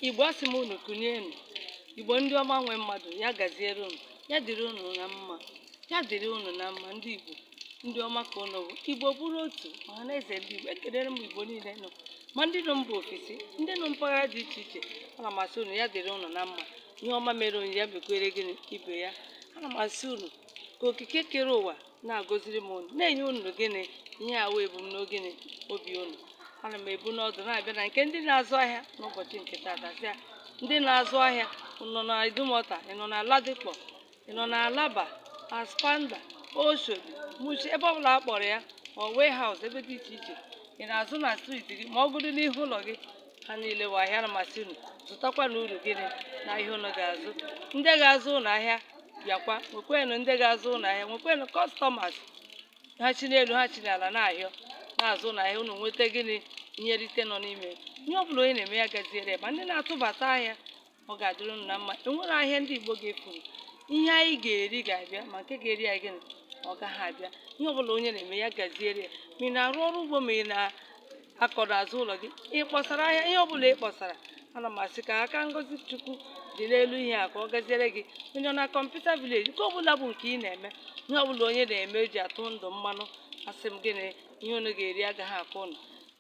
igbo asị m unu kunienụ igbo ndị ọma nwe mmadụ ya gaziere unu ya dịrị unu na mma ya dịrị unu na mma ndị igbo ndị ọma ka unu bụ igbo bụrụ otu ọha na eze ndị igbo ekelere m igbo niile nọ ma ndị nọ mba ofesi ndị nọ mpaghara dị iche iche ana m asị unu ya dịrị unu na mma ihe ọma mere onye ya mekwere gịnị ibe ya ana m asị unu ka okike kere ụwa na-agọziri m unu na-enye unu gịnị ihe a wụ ebum na gịnị obi unu ana m ebu n'ọdụ na-abịa na nke ndị na-azụ ahịa n'ụbọchị nke taata sị ya ndị na-azụ ahịa ị nọ na idumota ị nọ na ladipo ị nọ na alaba aspanda oshodi mushin ebe ọbụla a kpọrọ ya ọ warehouse ebe dị iche iche ị na-azụ na street gị ma ọ bụdị n'ihu ụlọ gị ha niile wụ ahịa ana m asị unu zụtakwanụ uru gịnị n'ahịa unu ga-azụ ndị ga-azụ unu ahịa bịakwa nwekwenụ ndị ga-azụ unu ahịa nwekwenụ customers ha chi n'elu ha chi n'ala na-ahọ na-azụ unu ahịa unu nweta gịnị ihe nrite nọ n'ime ihe ọ bụla onye na-eme ya gaziere ya ma ndị na-atụbata ahịa ọ ga-adịrị unu na mma enwere ahịa ndị Igbo ga-efuru ihe anyị ga-eri ga-abịa ma nke ga-eri anyị gịnị ọ gaghị abịa ihe ọbụla onye na-eme ya gaziere ya ma ị na-arụ ọrụ ugbo ma ị na-akọ n'azụ ụlọ gị ị kpọsara ahịa ihe ọbụla ị kpọsara ana m asị ka aka ngozi chukwu dị n'elu ihe a ka ọ gaziere gị onye nọ na computer village nke ọbụla bụ nke ị na-eme ihe ọbụla onye na-eme e ji atụ ndụ mmanụ asị m gịnị ihe unu ga-eri agaghị akọ unu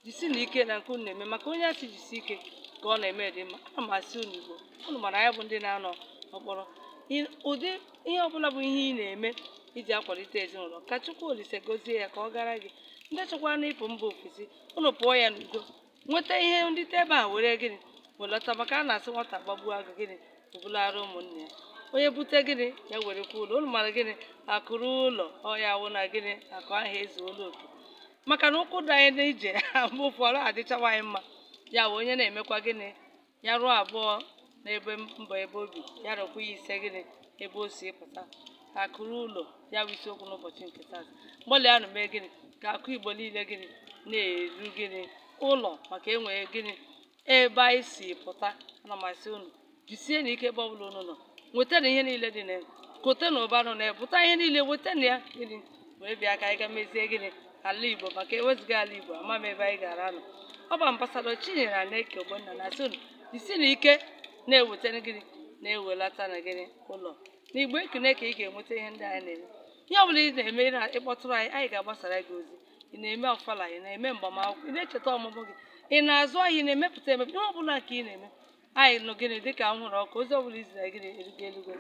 jisienụ ike na nke unu na-eme maka onye a sị jisie ike ka ọ na-eme dị mma ana m asị unu igbo unu mara ya bụ ndị na-anọ ọkpọrọ I- ụdị ihe ọbụla bụ ihe ị na-eme iji akwalite ezinụlọ ka chukwu olise gozie ya ka ọ gara gị ndị chọkwanụ ịpụ mba ofesi unu pụọ ya n'udo nweta ihe dị ebe a were gịnị welọta maka a na-asị nwata gbagbuo agụ gịnị o bulara ụmụnne ya onye bute gịnị ya werekwa ụlọ unu mara gịnị akụ ruo ụlọ ọ ya wụ na gịnị akụ ahụ ezuola oke maka na ụkwụ dị anyị n'ije mgbe ụfọdụ adịchawa anyị mma ya wụ onye na-emekwa gịnị ya rụọ abụọ n'ebe mba ebe o bi ya rụkwa ya ise gịnị ebe o si pụta akụ ruo ụlọ ya bụ isiokwu n'ụbọchị nke taa gbalịanụ mee gịnị ka akụ igbo niile gịnị na-eru gịnị ụlọ maka e nwee gịnị ebe anyị si pụta ana m asị unu jisienụ ike ebe ọbụla unu nọ nwetanụ ihe niile dị na ya kotenụ ụba nọ na ya pụta ihe niile wetanụ ya gịnị wee bịa ka anyị ga mezie gịnị ala igbo maka e wezuga ala igbo ama m ebe anyị gaara anọ ọ bụ ambassador chinyere aneke ogbonna na-asị unu jisienụ ike na-ewetanụ gịnị na-ewelatanụ gịnị ụlọ na igbo ekene ka ị ga-enweta ihe ndị anyị na-eme ihe ọbụla ị na-eme ị kpọtụrụ anyị anyị ga-agbasara gị ozi ị na-eme ofala ị na-eme mgbamakwụkwọ ị na-echeta ọmụmụ gị ị na-azụ ahịa ị na-emepụta emepụta ihe ọbụla ka ị na-eme anyị nụ gịnị dịka m hụrụ ọkụ ozi ọbụla i ziri gịnị erugo elugo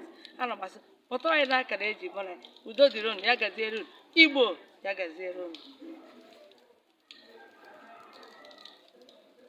ana m asị kpọtụrụ anyị n'akara eji mụ na udo dịrị unu ya gaziere unu igbo ya gaziere unu